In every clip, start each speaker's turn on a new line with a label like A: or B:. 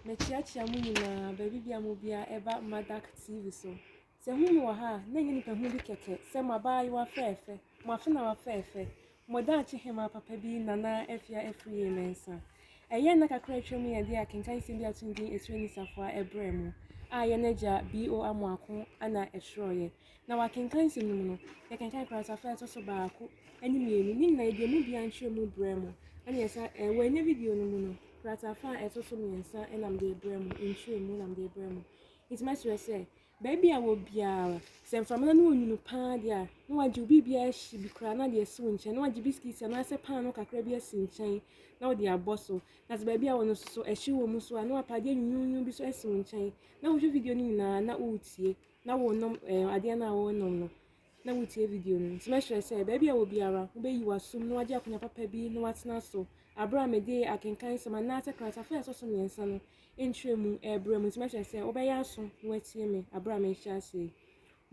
A: Mekyeakyea mo nyinaa, baabibiara a mobia ɛba Madak TV so. Sɛ ɛhu me wɔ ha a, na ɛnyɛ nipahu bi kɛkɛ, sɛ mo abaayewa fɛɛfɛ, mo afenawa fɛɛfɛ, mo daakye hemaa papa bi Nana Afia Afriyie Mensah. Ɛyɛ nna kakra a atwam yi a ɛde akenkan nsɛm bi ato din Akyire Nisafoa ɛbrɛɛ mo, a yɛn agya BO Amoako na ɛtwerɛeɛ. Na wɔakenkan nsɛm no mu no, yɛkenkan kratafa a ɛtɔ so baako ne mmienu, ne nyinaa yɛde emu biara nkyerɛmu brɛ mo. Ɛnneɛ sɛ eh, wɔannya video no mu no, kratafa a ɛtɔ so mmiɛnsa na mede rebrɛ mo, nkyerɛmu na mede rebrɛ mo. Nti mɛsrɛ sɛ, baabi a wɔ biara, sɛ mframana no ɔnwunu paa deɛ a, na wagye wo biribiara ahye bi koraa na ade asi wo nkyɛn, na wagye bisikiti anaasɛ paano kakra bi asi nkyɛn na wode abɔ so. Na sɛ baabi a wɔ no so so ɛhye wɔ mu so a, na wapa adeɛ nwunwunwun bi so asi wo nkyɛn, na wohwɛ video no nyinaa na woretie. na wonom ɛɛ adeɛ no a worenom no na wotie video no. Nti mɛsrɛ sɛ baabi a wɔ biara wobɛyi w'asom na wagye akonnwa papa bi na watena so aberɛ a mede akenkan nsɛm anaasɛ kratafa a ɛtɔ so mmiɛnsa no nkyerɛ mu ɛrebrɛ mu. Nti mɛsrɛ sɛ wobɛyɛ aso na watie me aberɛ a merehyɛ aseɛ yi.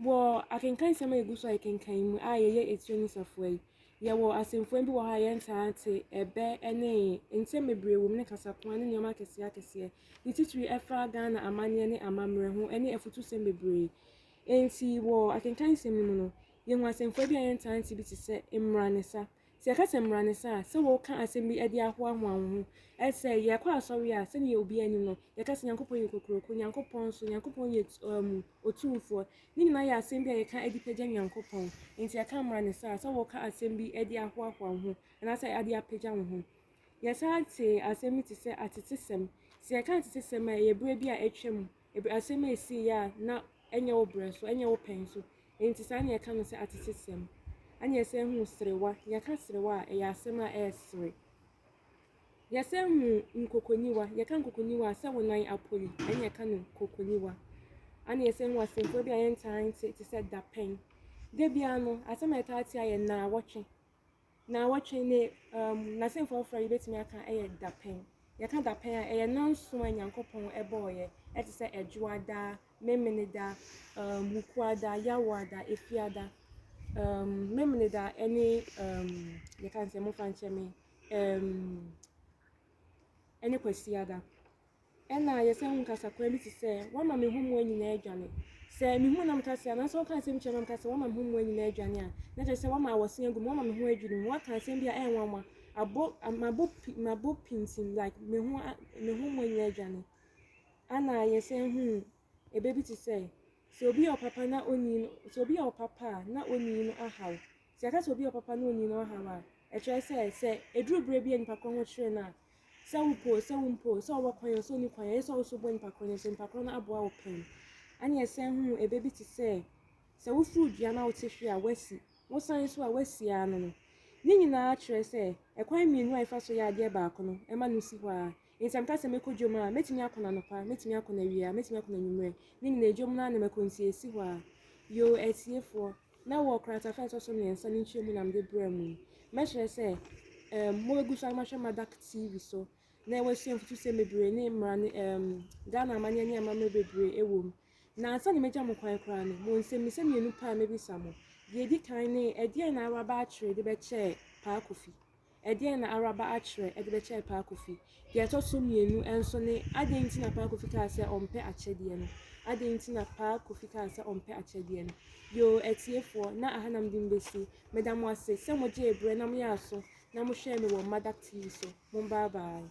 A: Wɔ akenkan nsɛm a ɛgu so a yɛkenkan yi mu a yɛyɛ etire no safoa yi, Yɛwɔ asɛmfua bi wɔ hɔ a yɛntaa te, ɛbɛ ne ee. Nsɛm bebree wom ne kasakoa ne nneɛma akɛseɛ akɛseɛ. Ne titire ɛfa Ghana amanneɛ ne amammerɛ ho ne afutusɛm bebree. Enti wɔ akenkan nsɛm no mu no, yɛhu asɛmfua bi a yɛntaa nte bi te sɛ mmara ne sa. Sɛ yɛka sɛ mmara ne sa a, sɛ woreka asɛm bi de ahoahoa wo ho. Ɛyɛ sɛ yɛkɔ asɔre a, sɛdeɛ obiara nim no, yɛka sɛ Nyankopɔn yɛ kokuroko, Nyankopɔn so, Nyankopɔn yɛ um Otumfoɔ. Ne nyinaa yɛ asɛm bi a yɛka de pagya Nyankopɔn. Enti ɛka mmra ne saa sɛ woka asɛm bi de ahoahoa wo ho anaasɛ de apagya wo ho. Yɛsan tee asɛm bi te sɛ atetesɛm. Sɛ yɛka atetesɛm a, ɛyɛ berɛ bi a atwam, asɛm a ɛsiiɛ a na ɛnyɛ wo berɛ so, ɛnyɛ wo pɛ nso. Enti saa na yɛka no sɛ atetesɛm. Ɛnna yɛsan hu serewa. Yɛka serewa a, ɛyɛ asɛm a ɛresere. Yɛsan hu nkokonyiwa, yɛka nkokonyiwa a, sɛ wo nan apon ɛne yɛka no nkokonyiwa. Ana yɛsan hu asɛmfua bi a yɛntaa nte te sɛ dapɛn. Da biara no, asɛm a yɛtaa te ara yɛ naawɔtwe. Naawɔtwe ne um, n'asɛmfua foforɔ a yɛbɛtumi aka yɛ dapɛn. Yɛka dapɛn a, ɛyɛ nanso a Nyankopɔn bɔɔeɛ, ɛte sɛ Ɛdwoada, Memeneda, um, Wukuada, Yawoada, Efiada, um, Memeneda ne um, yɛka no sɛ momfa nkyɛ me, um, ne Kwasiada. Ɛna yɛsan hu kasakoa bi te sɛ, Wama me hommoa nyinaa adwane. Sɛ mehu na meka sɛ, anaasɛ wɔka asɛm kyerɛ na meka sɛ, Wama me hommoa nyinaa adwane a, na kyerɛ sɛ wama awɔsen agu mu, wama me ho adwiri mu, waka asɛm bi a ɛyɛ nwanwa, abo, mabo, mabo pintim, like me ho, me hommoa nyinaa adwane. Ɛna yɛsan hu ebe bi te sɛ, Sɛ obi yɛ ɔpapa na onii no, sɛ obi yɛ ɔpapa a, na onii no ahaw. Sɛ yɛka sɛ obi yɛ ɔpapa na onyin ɔhaw a, ɛkyerɛ sɛ, sɛ eduru bere bi a nipa koro ho kyere no a, sɛ wopɛ o, sɛ wumpɛ o, sɛ ɔwɔ kwan o, sɛ onni kwan o, eye sɛ wo so bɔ nipa koro no asu. Nipa koro no aboa wo pɛn. Ɛnna yɛsan hu ɛbɛ bi te sɛ, sɛ woforo dua na wote hwe a, woasi, wosan nso a, woasi ara no no. Ne nyinaa kyerɛ sɛ, ɛkwan mmienu a yɛfa so yɛ adeɛ baako no, ɛma no si hɔ ara. Nsɛm ka sɛ, Mɛkɔ dwom a, mɛtumi akɔ no anɔpa, mɛtumi akɔ no awia, mɛtumi akɔ no anwummerɛ, ne nyinaa dwom no ara na mɛkɔ nti ɛsi hɔ ara. Yoo, atiefoɔ, na wɔ kratafa a ɛtɔ so mmiɛnsa no nkyerɛmu na mede brɛɛ mo yi, mɛkyerɛ sɛ, um, mobɛgu so ara mahwɛ Madak TV so na wɔasua mfutusɛm bebree ne mmara ne, um, Ghana amanneɛ ne amammerɛ bebree wɔ mu. Na ansa na mɛgya mo kwan koraa no, mo nsɛmmisa mmienu pɛ a mɛbisa mo. Deɛ ɛdi kan ne, ɛdeɛn na Awuraba Akyere de bɛkyɛɛ Paa Kofi? Ɛdeɛn na Araba akyerɛ de bɛkyɛɛ Paa Kofi? Deɛ ɛtɔ so mmienu nso ne adɛn nti na Paa Kofi kaa sɛ ɔmpɛ akyɛdeɛ no? Adɛn nti na Paa Kofi kaa sɛ ɔmpɛ akyɛdeɛ no? Yoo, atiefoɔ, na aha na mede mebɛsi. Meda mo ase sɛ mogyee berɛ na moyɛɛ aso na mohwɛɛ me wɔ Mmadak TV so. Mom bye bye.